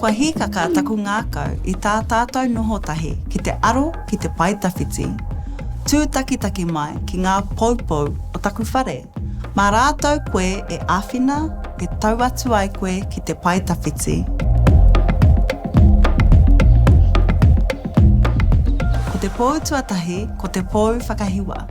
Kua hīkaka taku ngākau i tā tātou noho tahi ki te aro ki te pae tawhiti, tūtakitaki mai ki ngā poupou o taku whare. Mā rātou koe e āwhina e tau atu ai koe ki te pae tawhiti. Ko te pou tuatahi ko te pou whakahiwa.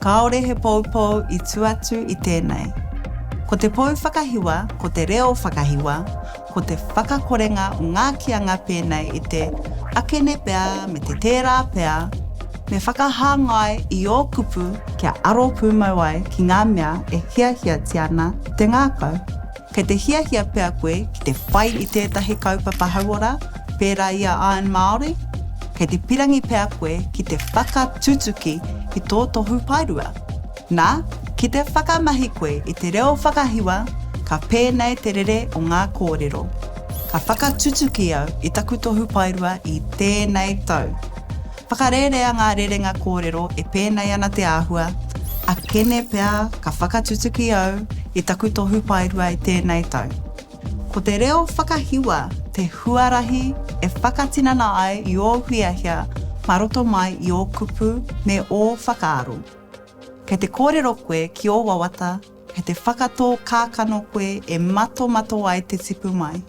Kāore he poupou i tū atu i tēnei. Ko te pou whakahiwa, ko te reo whakahiwa, ko te whakakorenga o ngā kīanga pēnei i te akene pea me te tērā pea, me whakahāngai i ō kupu kia aro pūmau ai ki ngā mea e hiahiatia ana te ngākau. Kei te hiahia pea koe ki te whai i tētahi kaupapa hauora, pērā i a Iron Māori? Kei te pirangi pea koe ki te whakatutuki i tō tohu paerua? Na, ki te whakamahi koe i te reo whakahiwa, ka pēnei te rere o ngā kōrero, Ka whakatutuki au i taku tohu paerua i tēnei tau. Whakarērea ngā rerenga kōrero e pēnei ana te āhua, a Kene pea ka whakatutuki au i taku tohu paerua i tēnei tau. Ko te reo whakahiwa te huarahi e whakatinana ai i ō hiahia mā roto mai i ō kupu me ō whakaaro. Kei te kōrero koe ki ō wawata, kei te whakatō kākano koe e matomato ai te tipu mai.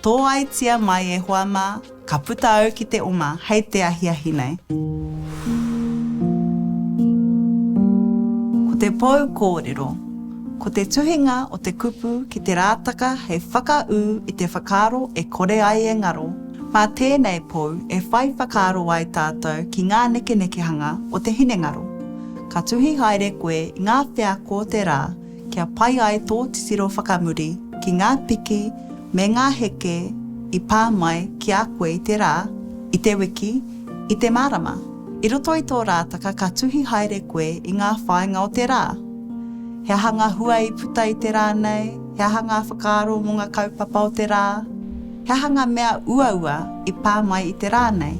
Tōaitia mai e hoa mā, ka puta au ki te oma hei te ahiahi nei. Ko te pou kōrero, ko te tuhinga o te kupu ki te rātaka hei whakaū i te whakaaro e kore ai e ngaro, mā tēnei pou e whai whakaaro ai tātou ki ngā nekenekehanga o te hinengaro. Ka tuhi haere koe i ngā wheako o te rā, kia pai ai tō titiro whakamuri ki ngā piki me ngā heke i pā mai ki a koe i te rā, i te wiki, i te marama. I roto i tō rātaka ka tuhi haere koe i ngā whāinga o te rā. He aha ngā hua i puta i te rā nei, he aha ngā whakaaro mō ngā kaupapa o te rā, he aha ngā mea uaua i pā mai i te rā nei.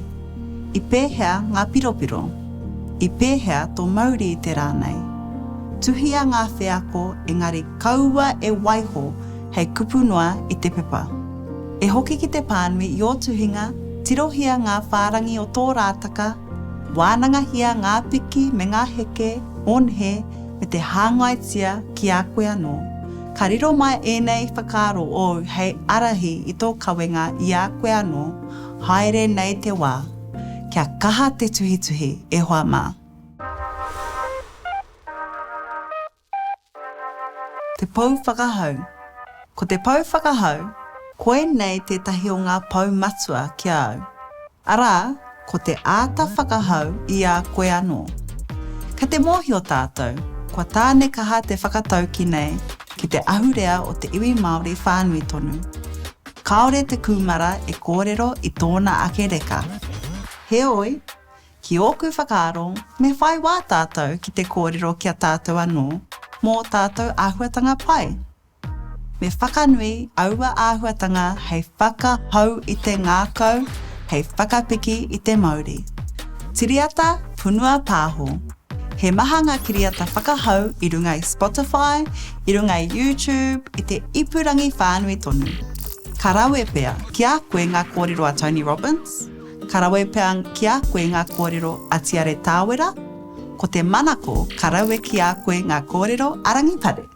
I pēhea ngā piropiro? I pēhea tō mauri i te rā nei? Tuhia ngā wheako engari kaua e waiho hei kupu noa i te pepa. E hoki ki te pānui i ō tuhinga, tirohia ngā whārangi o tō rātaka, wānangahia ngā piki me ngā heke o nehe me te hāngaitia ki a koe anō. Ka riro mai ēnei whakaaro ōu hei ārahi i tō kawenga i a koe anō, Haere nei te wā, kia kaha te tuhituhi e hoa mā. Te Pou Whakahau Ko te Pou Whakahau, koinei tētahi o ngā pou matua ki a au. Arā, ko te āta whakahau i a koe anō. Kei te mōhio tātou, kua tānekaha te whakatauki nei ki te ahurea o te iwi Māori whānui tonu. Kāore te kūmara e kōrero i tōna ake reka. Heoi, ki ōku whakaaro, me whai wā tātou ki te kōrero ki a tātou anō mō tātou āhuatanga pai. Me whakanui aua āhuatanga hei whakahou i te ngākau, hei whakapiki i te mauri. Tiriata, Punua Pāho. He maha ngā kiriata whakahau i runga i Spotify, i runga i YouTube, i te ipurangi whānui tonu. Ka rawe pea ki a koe ngā kōrero a Tony Robbins? Ka rawe pea ki a koe ngā kōrero a Tiare Tāwera? Ko te manako ka rawe ki a koe ngā kōrero a Rangipare.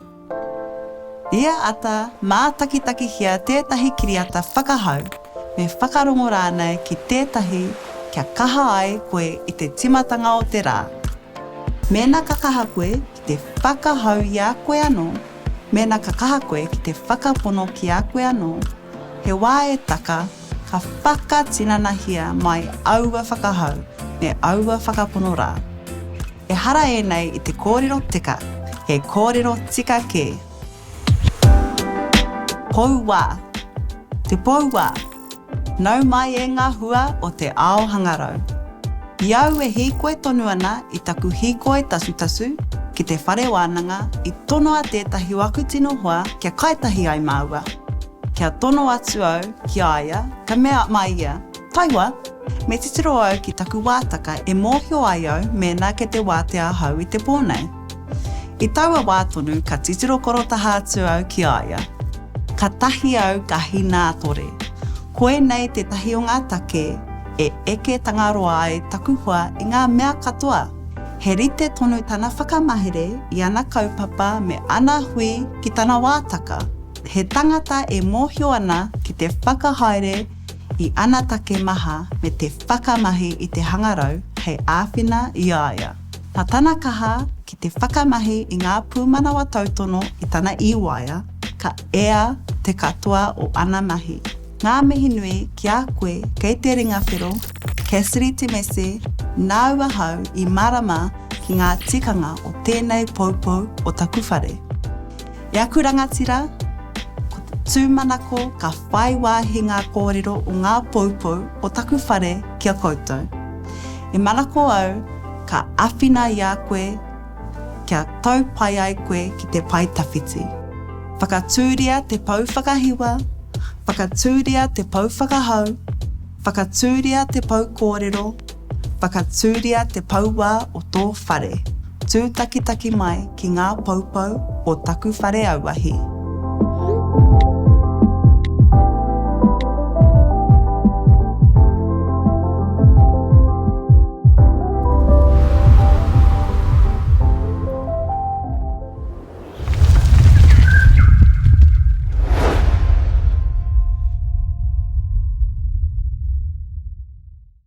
Ia ata, mātakitakihia tētahi kiriata whakahau, me whakarongo rānei ki tētahi kia kaha ai koe i te tīmatanga o te rā. Mēnā ka kaha koe ki te whakahau i a koe anō, mēnā ka kaha koe ki te whakapono ki a koe anō, he wā e taka Ka whakatinanahia mai aua whakahau me aua whakapono rā. Ehara ēnei i te kōrero teka, he kōrero tika kē. Pou wā Te pou wā Nau mai e ngā hua o te ao hangarau. I au e hīkoi tonu ana i taku hīkoi tasutasu ki te whare wānanga i tonoa tētahi waku tino hoa kia kai tahi ai māua. Kia tono atu au ki a ia, ka mea mai ia, Taiwa, me titiro au ki taku wātaka e mōhio ai au mēnā kei te wātea ahau i te pō nei. I taua wā tonu ka titiro korotaha atu au ki a ia. Katahi au ka hinātore. Koinei tētahi o ngā take e eke Tangaroa ai taku hoa i ngā mea katoa. He rite tonu tana whakamahere i ana kaupapa me ana hui ki tana wātaka. He tangata e mōhio ana ki te whakahaere i ana take maha me te whakamahi i te hangarau hei āwhina i a ia. Nā tana kaha ki te whakamahi i ngā pūmanawa tautono i tana iwaea, ka ea te katoa o ana mahi. Ngā mihi nui ki a koe kei te ringa whero, Cassidy Temese, nāu ahau i mārama ki ngā tikanga o tēnei poupou o taku whare. I aku rangatira, ko te tūmanako ka whai wāhi ngā kōrero o ngā poupou o taku whare ki a koutou. E manako au ka āwhina i a koe kia tau pai ai koe ki te pae tawhiti. Whakatūria te pou whakahiwa, whakatūria te pou whakahau, whakatūria te pou kōrero, Whakatūria te pauā o tō whare. Tūtakitaki mai ki ngā poupou o taku whare auahi.